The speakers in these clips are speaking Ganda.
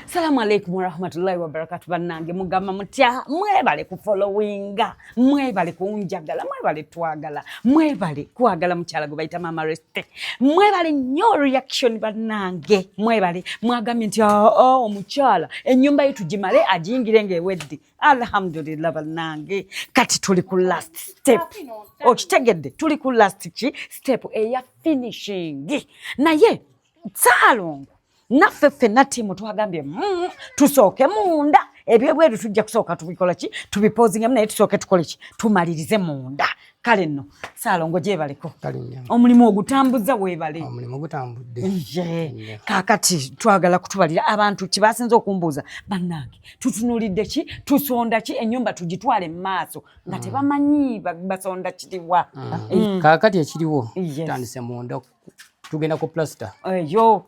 Salamu alaikum warahmatullahi wabarakatu. Bannange mugamba mutya? Mwebale kufolowinga, mwebale kunjagala, mwebale twagala, mwebale kwagala mukyala gwe bayita Mama Reste, mwebale nnyo reaction bannange, mwebale mwagambye nti ah, ah, omukyala ennyumba ye tugimale agiyingire ng'ewedde. Alhamdulillah bannange, kati tuli ku last step. Okitegedde, tuli ku last ki step eya finishing, naye Salongo naffe ffenna tiimu twagambye mm, tusooke munda ebyebweru tujja kusooka tubikola ki tubipozingemu naye tusooke tukole ki tumalirize munda kale nno saalongo gyebaleko omulimu ogutambuza weebale kakati twagala kutubalira abantu kyebasinza okumbuuza bannange tutunulidde ki tusonda ki enyumba tugitwale mu maaso nga mm. tebamanyi basonda kiriwa mm. Mm. kakati ekiriwo tutandise mundoko tugenda ku plaster eyo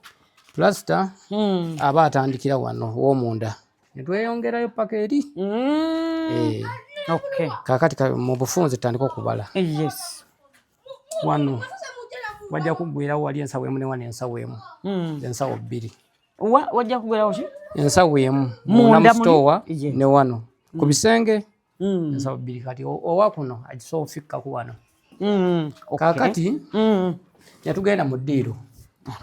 plaster hmm. aba atandikira wano womunda netweyongerayo paka eri hmm. eh. kakati mu bufunzi tutandika okubala eh, wano wajja kugwirawo wali ensawo emu newana ensawo emu hmm. ensawo bbiri wajja kugwirawo ki ensawo emu munda mustowa ne wano ku bisenge mm. ensawo bbiri kati owa kuno agisobola ofikka ku wano mm. kakati mm. netugenda mu ddiiro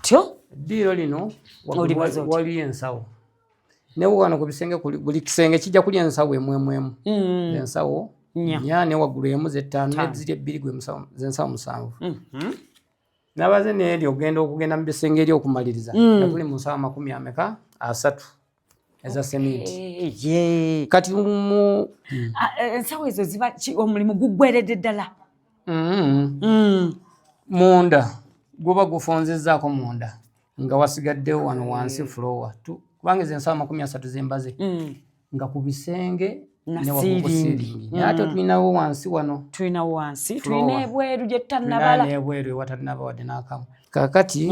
tyo ddiiro lino waliyo ensawo naye wano ku bisenge buli kisenge kijja kulya ensawo emwemwemu mm. ensawo nya ne waggulu emu zettaano neziri ebbiri gwe zensawo musanvu mm-hmm. nabaze neeri ogenda okugenda mu bisenge eri okumaliriza mm. natuli mu nsawo amakumi ameka asatu eza sementi eh, kati mu hmm. ah, eh, ensawo ezo ziba omulimu guggweredde ddala hmm. Hmm. munda guba gufunzizaako munda nga wasigadde wano wansi fulowa kubanga ezo ensawo amakumi asatu zembaze nga ku bisenge nasiringi naye ate tulinawo wansi wano tulinawo wansi tulina ebweru gyetutanabala ebweru ewatanaba wadde n'akamu kakati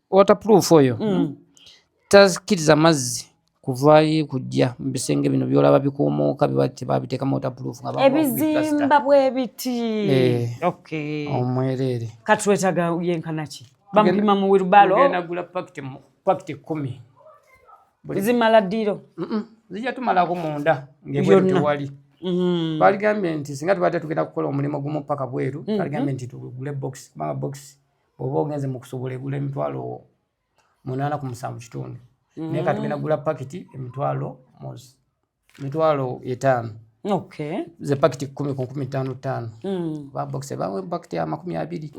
waterproof oyo mm. takkiriza mazzi kuvaayo kujja mu bisenge bino byolaba bikuumuuka biba tebabiteekamu waterproof nga ebizimba bwe biti eh. okay. omwereere kati wetaga yenkanaki bamupima mu wilbalo nagula pakiti pakiti kumi zimala ddiro zija tumalako munda ngebwetewali mm. baligambye nti singa tubadde tugenda kukola omulimu gumu paka bweru mm-hmm. baligambye nti tugule box kubanga box bwoba ogenze mukusubula egula emitwalo munaana ku musanvu kitundu mm. naye katugenda gula pakiti emitwalo mozi mitwalo etaano okay. ze pakiti kumi ku nkumi ttaano ttaano mm. babokise bawe pakiti ya makumi abiri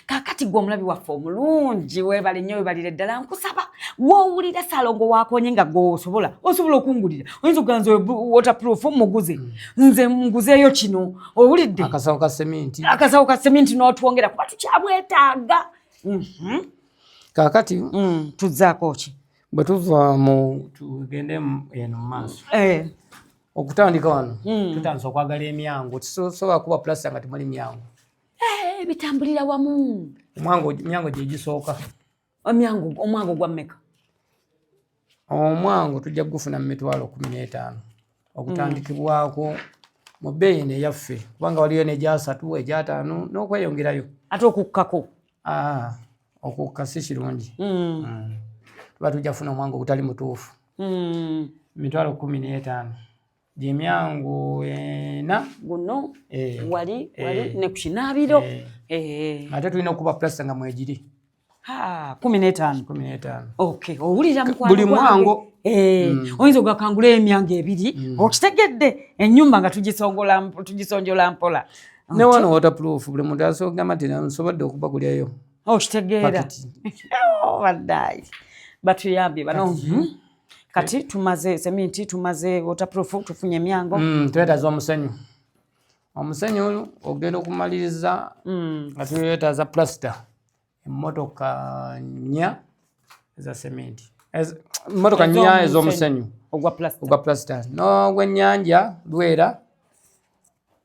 kakati gwe omulabi waffe omulungi webale nnyo webalire ddala nkusaba wowulira salongo wakonye nga gwowosobola osobola okungulira oyinza okuganza waterproof muguze mm. nze nguzeeyo kino owulidde akasawo ka seminti akasawo ka seminti n'otwongera kuba tukyabwetaaga mhm. kakati mm, tuzzaako ki bwe tuva mu tugende eno mu maaso eh. okutandika wano mm. tutandisa okwagala emyango tisobola kuba pulasta nga temuli myango eh, bitambulira wamu myango gyegisooka omyango omwango gwa meka omwango tujja kugufuna mu mitwalo kumi n'etaano ogutandikibwako mm. mu bbeeyi eno eyaffe kubanga waliyo negyasatu egyataano n'okweyongerayo ate okukkako ah, okukka si kirungi mm. mm. tuba tujja kufuna omwango ogutali mutuufu mitwalo kumi n'etaano gyemyangu ena guno eh, wali eh, wali eh, ne ku kinaabiro eh, eh. ate tulina okuba plasita nga mwegiri kumi n'etaano kumi n'etaano okay owulira buli mwango eh, mm. oyinza ogakangula emyango ebiri mm. okitegedde ennyumba nga tugisonjola mpola ne wano waterproof buli muntu asogamba nti nsobodde okuba kulyayo okitegeera oh, oh, baddayi batuyambye bano kati tumaze seminti tumaze waterproof tufunye emyango mm, twetaza omusenyu omusenyu oyo ogenda okumaliriza mm. nga twetaza plaster emotoka nya eza seminti emotoka nya ezomusenyu ogwa plaster nogwenyanja lwera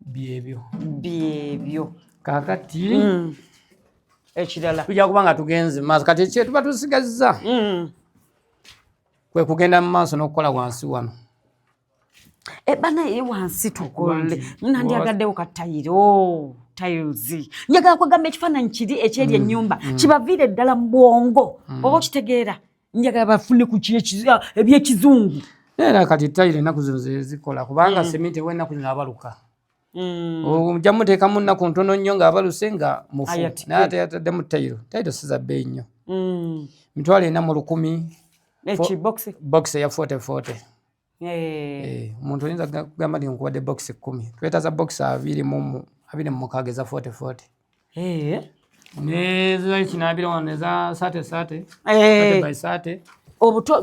byebyo byebyo kakati mm. ekirala tujja kuba nga tugenze maaso kati ekyetuba tusigazza mm. kwe kugenda mu maaso n'okukola wansi wano e banaye wansi tukole nandyagaddewo katayiro oh. tiles njagala kwegamba ekifaananyi kiri ekyeri mm. ennyumba mm. kibaviire ddala mu bwongo mm. oba okitegeera njagala bafune ku ah, ebyekizungu era kati tayire ennaku zino zezikola kubanga mm. sementi ewa ennaku zino abaluka mm. ojja muteekamu nnaku ntono nnyo ng'abaluse nga mufu naye ate yataddemu tayiro tayiro siza bbeeyi nnyo mm. mitwalo ena mu lukumi bokisi eya fote fote Eh, omuntu oyinza kugamba nti nkubadde box kumi twetaza box abiri mumukaaga eza forty forty eh. nezakinabira wano eza sate sate eh. by sate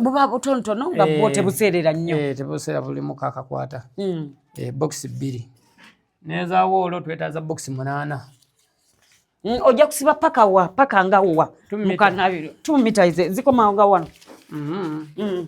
buba butonotono nga bwo tebuseerera nnyo tebuseera buli mukakakwata hmm. box bbiri nezawoolo twetaza box munaana hmm, ojja kusiba paka wa paka nga wa mukanabiro two meters zikomawo nga wano mm-hmm. hmm.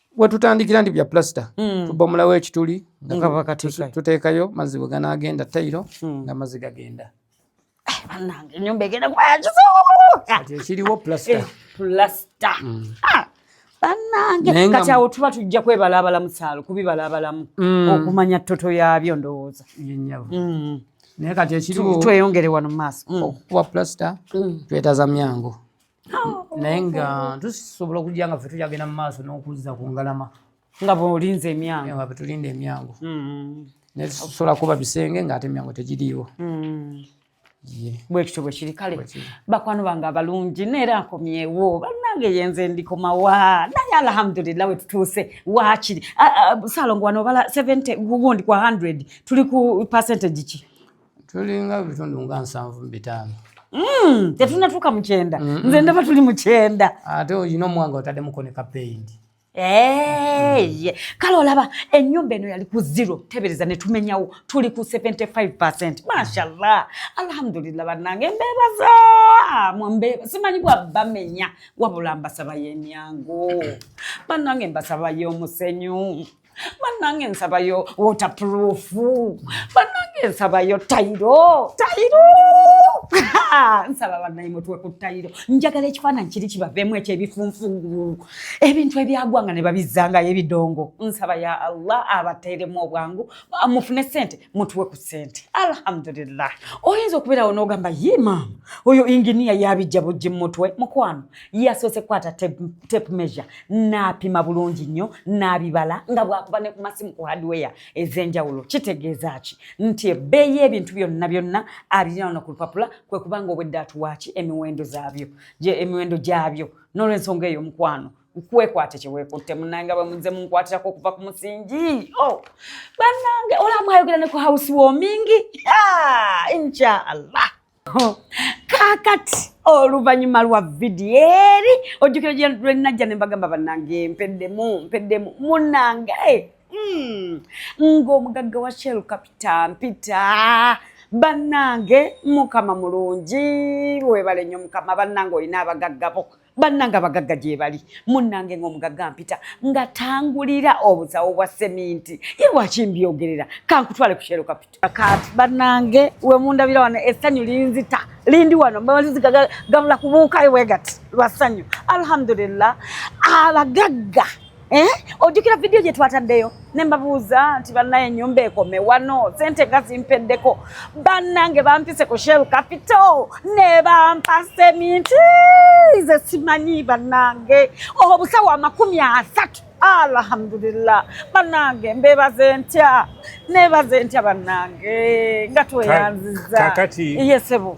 wetutandikira ndi bya plaster mm. tubomulawo ekituli tuteekayo mazzi bwe ganaagenda tayiro mm. nga mazzi gagenda ekiriwo plaster banange kati awo tuba tujja kwebalabala musaalo kubibalabalamu mm. okumanya toto yabyo ndowooza mm. naye kati ekiriwo tweyongere wano mumaaso mm. okukuba plaster twetaza myangu naye nga tusobola okujja nga ffe tukyagenda mu maaso n'okuzza ku ngalama nga bwolinze emyango nga bwetulinda emyango mm-hmm. naye tusobola kuba bisenge ng'ate emyango tegiriiwo mm-hmm. bwekityo bwekiri kale bakwano bange abalungi neera nkomyewo banange yenze ndikomawa naye alhamdulillah wetutuuse wakiri salongo wano obala 70 gundi kwa 100 tuli ku percentage ki tulinga bitundu nga nsanvu mu bitaano mm, tetunatuuka mu kyenda nze ndaba tuli mu kyenda ate olina omwanga otaddemukko ne kapeyinti Hey, kale olaba enyumba eno yali ku zero tebereza netumenyawo tuli ku 75 mashallah alhamdulillah banange mbebaza mwambeba simanyi bwabamenya wabula mbasabayo emyangu banange mbasabayo omusenyu banange nsabayo waterproof banange nsabayo tayiro tayiro nsaba banaye mutwe ku tayiro njagala ekifaananyi kiri kibaveemu ekyebifunfugu ebintu ebyagwa nga ne babizzangayo ebidongo nsaba ya allah abateeremu obwangu mufune sente mutwe ku sente alhamdulillah oyinza okubeerawo n'ogamba ye maama oyo inginiya yabijja bujji mu mutwe mukwano yasoose kukwata tape measure n'apima bulungi nnyo n'abibala nga bwakuba ne ku masimu ku hardware ez'enjawulo kitegeeza ki nti ebbeeyi y'ebintu byonna byonna abirina wano ku lupapula kwe kubanga obwedde atuwaaki emiwendo zaabyo emiwendo gyabyo n'olwensonga eyo omukwano kwekwate kyewekutte munange bamuze munkwatirako okuva ku musingi oh, banange olamwayogera ne ku house warming inshaallah kaakati oluvannyuma lwa vidiyo eri ojjukira gye lwenajja ne mbagamba bannange mpeddemu mpeddemu munnange hmm. ng'omugagga wa shell kapita mpita bannange mukama mulungi webale nnyo mukama bannange olina abagaggabo bannanga abagagga gyebali munnange ngaomugagga mpita nga tangulira obusawo bwa seminti ye lwaki mbyogerera kankutwale ku kyero kapito kati bannange wemundabira wano essanyu linzita lindi wano mbalinzigagabula kubuukayo bwegati lwa ssanyu alhamdulillah abagagga Eh, ojjukira vidiyo gye twataddeyo ne mbabuuza nti bannaye ennyumba ekome wano sente nga zimpeddeko bannange bampise ku shell capital ne bampa seminti ze simanyi bannange obusawo amakumi asatu alhamdulillah bannange mbebaze ntya nebaze ntya bannange nga tweyanziza kakati yesebo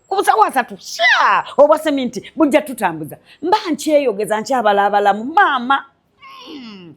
kubusawo asatu sha obwa seminti bujja tutambuza mba nkyeyogeza nkyabalaabalamu maama hmm.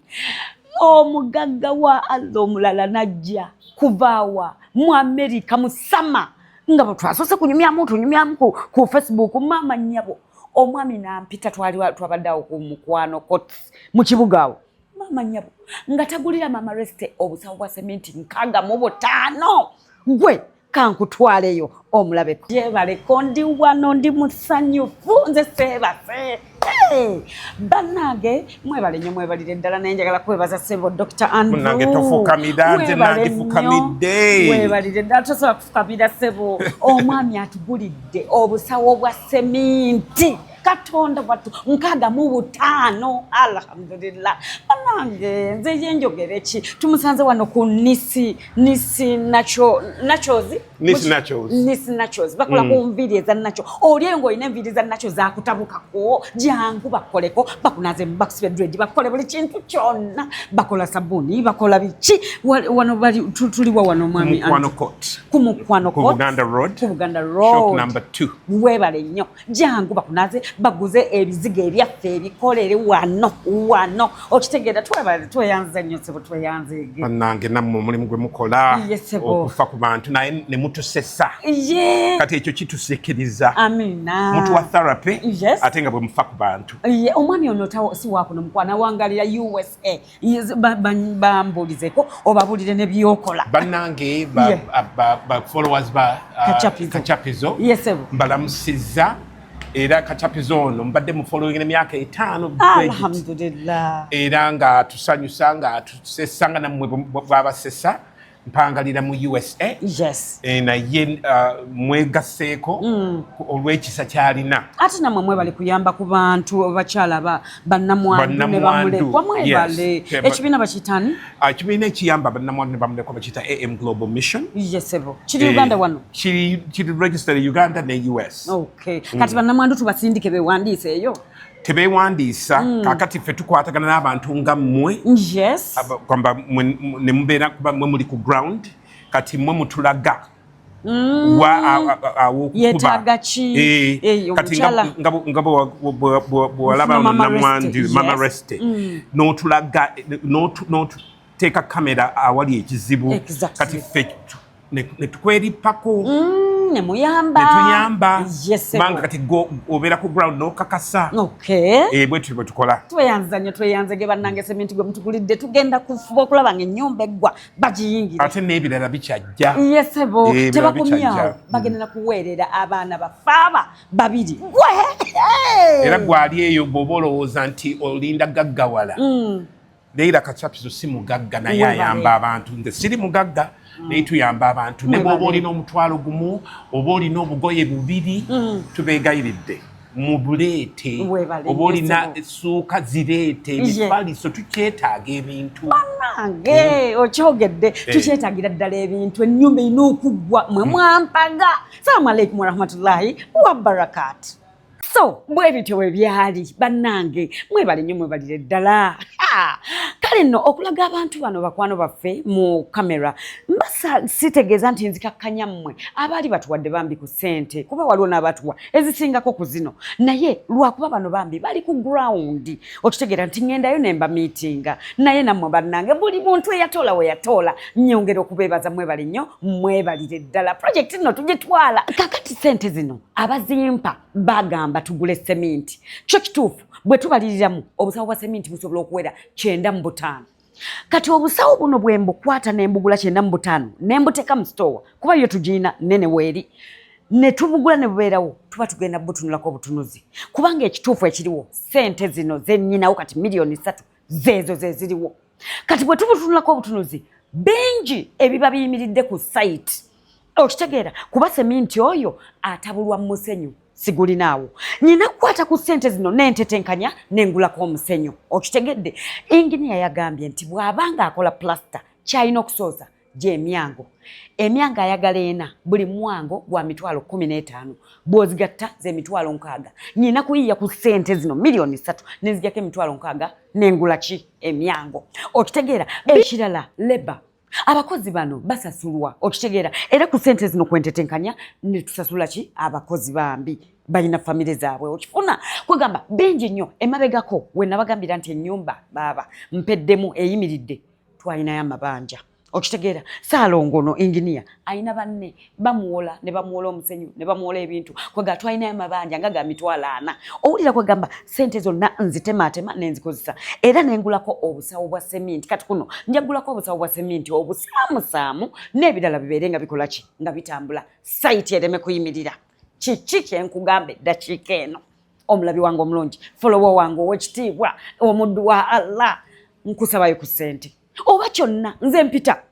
omugagga wa allah omulala najja kuvaawa mu amerika musama nga bwetwasose kunyumyamu tunyumyamu ku facebook maama nyabo omwami nampita twali twabadde awo ku mukwano kot mu kibuga awo maama nyabo nga tagulira maama reste obusawo bwa seminti nkaaga mu butaano gwe kankutwaleyo omulabe jebale ko ndi wano ndi musanyufu nze seebase bannange mwebale nyo mwebalire ddala naye njagala kwebaza sebo dr andrewmwebalire ddala tosobola kufukamira sebo omwami atugulidde obusawo bwa seminti katonda wattu nkaaga mu butaano alhamdulillah banange nze yenjogere ki tumusanze wano ku nisi nisi nacho nachos nisi nachos nisi nachos bakola mm. ku nviiri eza nacho oli engo olina enviiri za nacho zakutabukako jangu bakoleko bakunaze bakusibe dred bakole buli kintu kyonna bakola sabuni bakola biki wano bali tuliwa wano mwami ku mukwano kot ku buganda road ku buganda road shop number 2 webale nnyo jangu bakunaze baguze ebizigo ebyaffe ebikolere wano wano okitegeera tweyanze nnyo sebo tweyanzege banange nammwe omulimu gwe mukola okufa ku bantu naye ne mutusesa kati ekyo kitusikiriza mutu wa therapy ate nga bwe mufa ku bantu omwami ono si wakuno mukwana wangalira usa bambulizeko obabulire nebyokola banange bafollowers ba uh, kachapizo mbalamusiza era kachapizo ono mbadde mufollowing emyaka etaano alhamdulillah era nga tusanyusa nga tusesanga namwe bwabasesa mpangalira mu usa yes. e, naye uh, mwegaseeko mm. olw'ekisa kyalina ate namwe mwebali kuyamba ku bantu abakyala bannamwandu ne bamulekwa mwebale yes. ekibiina bakitani ah, ekibiina ekiyamba bannamwandu ne bamulekwa bakiyita am global mission yesebo kiri e, uganda wano kiri registered uganda ne us okay. mm. kati bannamwandu tubasindike bewandiise eyo tebeewandiisa mm. kakati ffe tukwatagana n'abantu nga mmwe yes. kwamba ne mubeera kuba mwe muli ku ground kati mwe mutulaga mm. awokubayetaga ki eh, eh, kati nga bwewalaba namwandi mama reste mm. n'otulaga teeka kamera awali ekizibu kati ffe netukwerippako mm, nemuyamba netuyamba kubanga kati obeera ku ground nokakasa eh, bwetyo bwetukola tweyanza nyo tweyanza ge bannange seminti gwe mutugulidde tugenda kufuba okulaba nga ennyumba eggwa bagiyingira ate n'ebirala bikyajja yesebo eh, tebakomyawo mm. bagenda nakuweerera abaana bafaaba babiri gwe era gwali eyo bwoba olowooza nti olinda gaggawala mm. Leila Kachapizo si mugagga naye ayamba abantu. Nze siri mugagga mm. naye tuyamba abantu. Ne bw'oba olina omutwalo gumu oba olina obugoye bubiri mm. tubeegayiridde mubuleete oba olina essuuka zireete ebifaliso tukyetaaga ebintu banange eh. okyogedde eh. tukyetagira ddala ebintu ennyumba erina okuggwa mwe hmm. mwampaga salamu aleikum warahmatullahi wabarakaatu so bwe bityo bwe byali bannange mwebale nnyo mwebalire ddala kale nno okulaga abantu bano bakwano baffe mu kamera mbasa sitegeeza nti nzikakkanya mmwe abaali batuwadde bambi ku ssente kuba waliwo n'abatuwa ezisingako ku zino naye lwakuba bano bambi bali ku gurawundi okitegeera nti ŋŋendayo ne mba miitinga naye nammwe bannange buli muntu eyatoola we yatoola nnyongera okubeebaza mwebale nnyo mwebalire ddala projekiti nno tugitwala kakati ssente zino abazimpa bagamba tugule seminti kyo kituufu bwe tubaliriramu obusawo bwa seminti busobola okuwera kyenda mu butaano kati obusawo buno bwe mbukwata ne mbugula kyenda mu butaano ne mbuteeka mu sitoowa kuba yo tugirina nene weeri ne tubugula ne bubeerawo tuba tugenda butunulako obutunuzi kubanga ekituufu ekiriwo sente zino zennyinawo kati miliyoni ssatu zeezo ze ziriwo kati bwe tubutunulako obutunuzi bingi ebiba biyimiridde ku sayiti okitegeera kuba seminti oyo atabulwa mu musenyu sigulinaawo nina kukwata ku ssente zino nentetenkanya nengulako omusenyu okitegedde inginiya yagambye nti bw'aba nga akola pulasita kyalina okusooza gy'emyango emyango ayagala ena buli mwango gwa mitwalo kumi n'etaano bw'ozigatta z'emitwalo nkaaga nyina kuyiya ku ssente zino miliyoni ssatu nenzijako emitwalo nkaaga nengula ki emyango okitegeera ekirala leba abakozi bano basasulwa okitegeera era ku ssente zino kwentetenkanya netusasula ki abakozi bambi balina famire zaabwe okifuna kwegamba bingi nnyo emabegako wenabagambira nti enyumba baaba mpeddemu eyimiridde twalinayo amabanja okitegeera saalongono engineer alina banne bamuwola ne bamuwola omusenyu ne bamuwola ebintu kwega twalinayo amabanja nga ga mitwalo ana owulira kwegamba sente zonna nzitemaatema nenzikozesa era nengulako obusawo bwa seminti kati kuno njagulako obusawo bwa seminti obusaamusaamu n'ebirala bibeere nga bikola ki nga bitambula sayiti ereme kuyimirira kiki kyenkugamba eddakiika eno omulabi wange omulungi folowo wange owekitiibwa omuddu wa allah nkusabayo ku sente oba kyonna nze mpita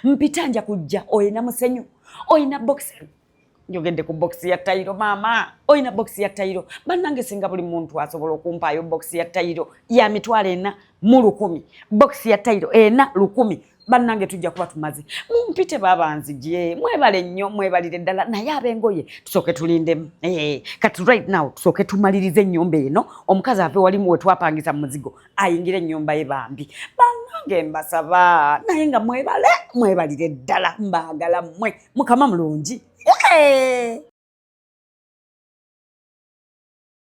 mpita nja kujja olina musenyu olina bokisi njogedde ku bokisi ya tayiro maama olina bokisi ya tayiro bannange singa buli muntu asobola okumpaayo bokisi ya tayiro ya mitwalo ena mu lukumi bokisi ya tayiro ena lukumi bannange tujja kuba tumaze mumpite babanzigye mwebale nnyo mwebalire ddala naye abengoye tusooke tulindemu eh, kati right now tusooke tumalirize ennyumba eno omukazi ave walimu wetwapangisa muzigo ayingire ennyumba ye bambi bannange mbasaba naye nga mwebale mwebalire ddala mbaagala mmwe mukama mulungi eh!